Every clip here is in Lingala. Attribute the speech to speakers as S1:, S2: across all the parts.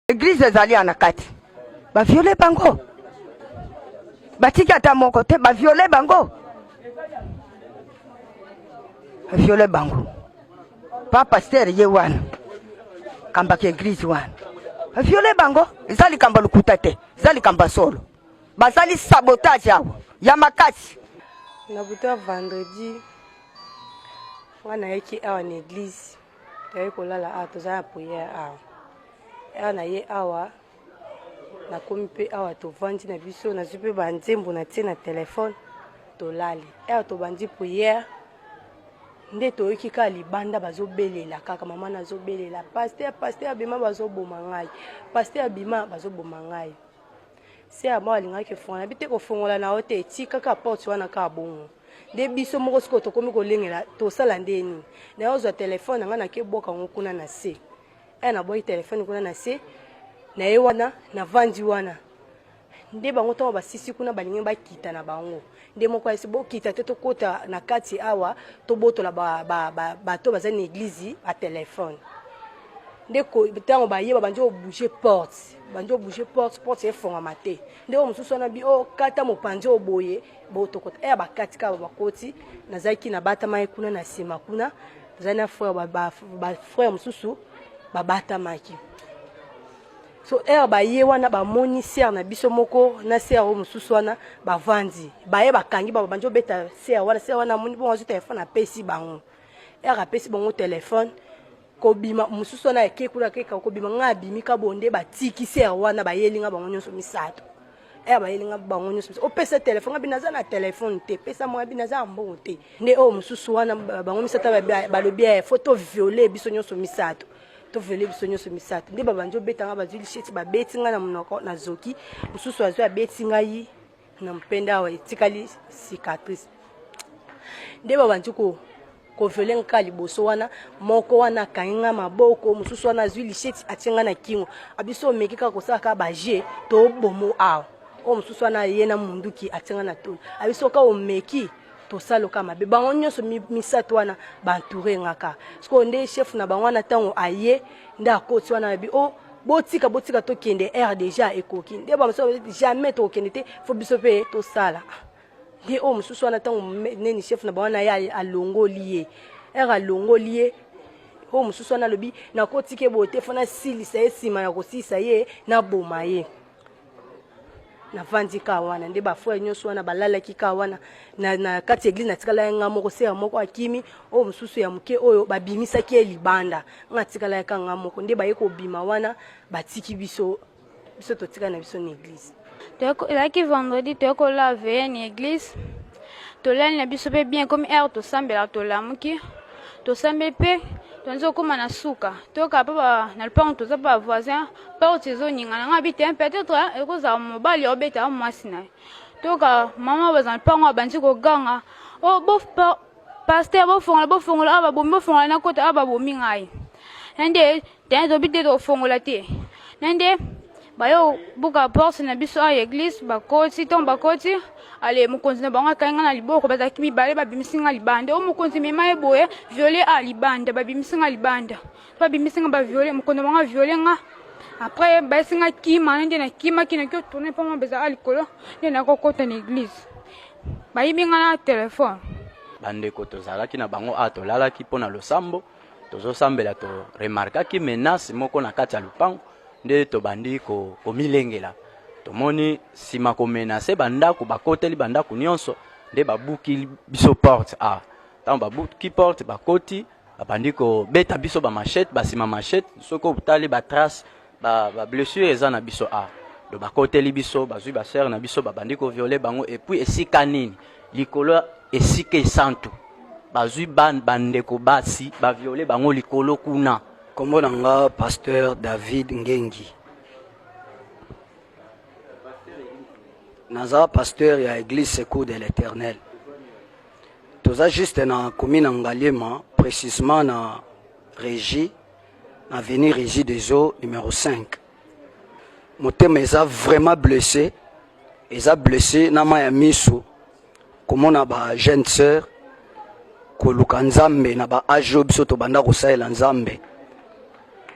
S1: Eglise ezali ya na kati, baviole bango, batiki ata moko te, baviole bango, baviole bango. Pa pasteur ye wana kambaka eglise wana, baviole bango. Eza likambo lokuta te, eza likambo ya solo. Bazali sabotage awa ya makasi. Na butu
S2: ya vendredi, wana ayaki awa na eglise toyei kolala awa toza na priere awa awa na ye awa nakomi mpe awa tovandi na biso nazwi mpe banzembo na tie na telefone tolali awa tobandi priere nde toyoki kaka libanda bazobelela kaka mama nazobelela paster paster abima bazoboma ngai paster abima bazoboma ngai se ya mwa alingaki kofongola bi te kofongola na yo te etikaka porte wana kaka bongo nde biso moko sikoyo tokomi kolengela tosala nde nini naye ozwa telefone nanga nake bwaka yango kuna na se e nabwaki telefone kuna na se naye wana navandi wana nde bango ntango basisi kuna balingi bakita na bango nde moko ayesi bokita te tokɔta na kati awa tobotola bato ba, ba, ba, baza na eglize batelefone nde ntango baye babandi obouge porte bandi obouge porte porte efongama te nde oyo mosusu wana bi okata oh, mopanzi oyo boye botokota eya eh, bakati kaka bakoti nazalaki nabatamaki kuna na nsima kuna nazali na frère bafrère mosusu babatamaki so ere baye wana bamoni sere na biso moko na sere oyo mosusu wana bavandi baye bakangi bango bandi obeta sere wana sere wana amoni bongo azwi telefone apesi bango ere apesi bango telefone kobima mosusu wana ya kekula keka kobima ngai abimi kabonde batiki ser wana bayeli ngai bango nyonso misato eya eh, bayeli ngai bango nyonso misato opesa oh, telefone abi naza na telefone te pesa mwa abi naza ya mbongo te nde oyo oh, mosusu wana bango misato balobi ya eh, fo to viole biso nyonso misato tovele biso nyonso misato nde babandi obeta ngai bazwi lisheti babeti ngai na monoko nazoki mosusu azwi abeti ngai na mpende awa etikali cicatrice nde babandi ko kovele nka liboso wana moko wana akangi nga maboko mosusu wana azwi lisheti atie nga na kingo abiso omeki kaka kosala kaka baje tobomo awa oyo mosusu wana ye na munduki atie nga na tolo abiso ka omeki tosala oka mabe bango nyonso misato wana bantoure nga ka sikoyo nde chef na bango wana ntango aye nde akoti wana abi o oh, botika botika tokende air deja ekoki nde bamosusu bazoki jamais tokokende te fo biso mpe tosala nde oyo mosusu wana ntango neni chef na bawana ye alongoli ye air alongoli ye oyo mosusu wana alobi nakotike boye te fo nasilisa ye nsima ya kosilisa ye naboma ye navandi kaka wana nde bafrere nyonso wana balalaki kaka wana na, na kati ya eglise natikala ya nga moko sera moko akimi oyo mosusu ya moke oyo babimisaki ye libanda nga atikala ya kanga moko nde baye kobima wana batiki biso biso totika na biso na eglise elaki
S3: vendredi toye kola veye na eglise tolali na biso mpe bien komi heure tosambela tolamuki tosambeli mpe tonzi kokóma na suka toyoka mpe na lopango toza mpe bavoisin porte ezoningana nga bi te peut-être ekozala mobali obeta ya mwasi na ye toka mama bazala mpango abandi koganga o oh, bo paster bofongola bofongola awa babomi bofongola nakota awa babomi ngai na nde tene tobi te tokofongola te na nde bayo buka porte na biso awa ya eglise bakoti ntongo bakoti ale mokonzi na bango akangi ngai na liboko bazalaki mibale babimisi ngai libanda o oh, mokonzi mema ye boye viole a libanda babimisi ngai libanda babimisi nga baviole mokondo bango aviole nga après bayesi nga kima na nde na kimaki naki otourne mpo mwa bezala likolo nde naki okota na église bayibi nga na telefone bandeko
S4: tozalaki na bango a tolalaki mpo na losambo tozosambela toremarkaki menace moko na kati ya lopango nde tobandi komilengela ko tomoni nsima komenase bandako bakoteli bandako nyonso nde babuki biso porte a ah, ntango babuki porte bakoti babandi kobeta biso ba machete basima machete soki otali ba trace ba, ba blessure eza na biso a do bakoteli biso bazwi basere na biso babandi koviole bango epuis esika nini likolo esika esantu bazwi bandeko basi baviole bango likolo kuna nkombo na nga
S5: pasteur david ngengi naza pasteur ya eglise secour de l'éternel Toza juste na commune ya Ngaliema precisement na Regie na avenue Regie des Eaux numéro 5. Motema eza vraiment blessé, eza blessé na mayi ya miso komona ba jeune sœur koluka Nzambe na ba age oyo biso tobanda kosalela Nzambe.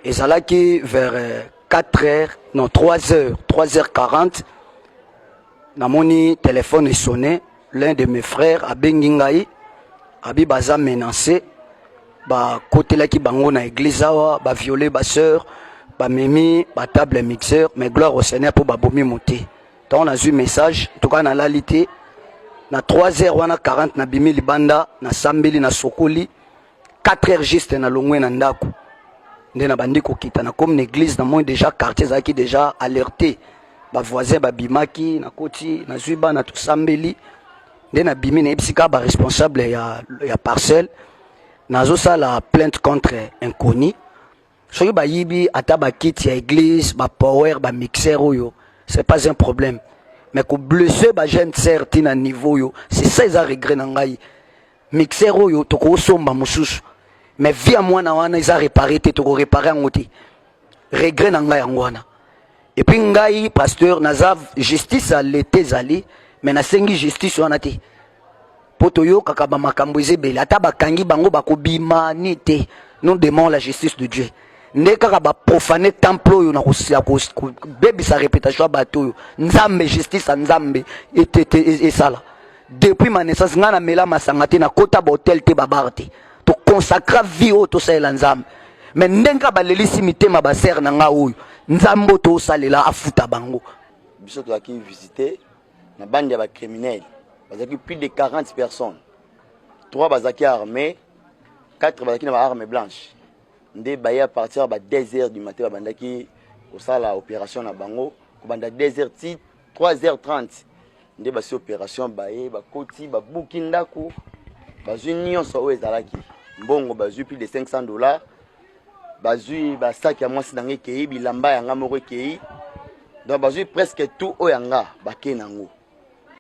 S5: Ezalaki vers 4 heures, non 3 heures, 3 heures 40 namoni telefone esone l'un de mes frères abengi ngai abi baza menance bakotelaki bango na eglise awa baviole basœur bamemi batable mixeur mais gloire au seigneur mpo babomi mote ntango nazwi message ntuka nalali te na 3 heures wana 40 nabimi libanda nasambeli nasokoli 4 heures juste na longwe na ndako nde na bandi kokita na komi na église na moi déjà quartier ezalaki déjà alerté bavoisin babimaki nakoti nazwi bana tosambeli nde nabimi nayebisi kaka baresponsable ya, ya parcelle nazosala plainte contre inconnu soki bayibi ata bakiti ya église bapower bamixer oyo c'est pas un problème mais koblesse bajeune sere ntina niveau oyo c'est ça eza regret na ngai Mixer oyo toko somba mususu. Mais vie ya mwana wana eza repare te toko repare yango te. Regret na ngai yango wana. Et puis ngai pasteur naza justice à l'été zali mais nasengi justice wana te. Po toyokaka ba makambo ezebele ata bakangi bango bakobima ni te. Nous demandons la justice de Dieu. nde kaka baprofane temple oyo na kobebisa reputation ya bato oyo nzambe justice ya nzambe esala depuis ma naissance ngai namela masanga te nakota bahotel te babar te toconsacra vie oyo tosalela nzambe me ndenge kaka balelisi mitema basere na ngai oyo nzambe oyo tosalela afuta bango biso tozalaki
S6: visite na bande ya bacriminele bazalaki plus de 40 personnes 3 bazalaki armé 4 bazalaki na baarme blanche nde baye à partir ya ba 2 heures du matin babandaki kosala opération na bango kobanda 2 heures ti 3h30 nde basi operation baye bakoti babuki ndako bazwi nyonso oyo ezalaki mbongo bazwi plus de 500 dollars bazwi basaki ya mwasi na ngai ekei bilamba ya ngai moko ekei donc bazwi presque tout oyo ya nga bakei na yango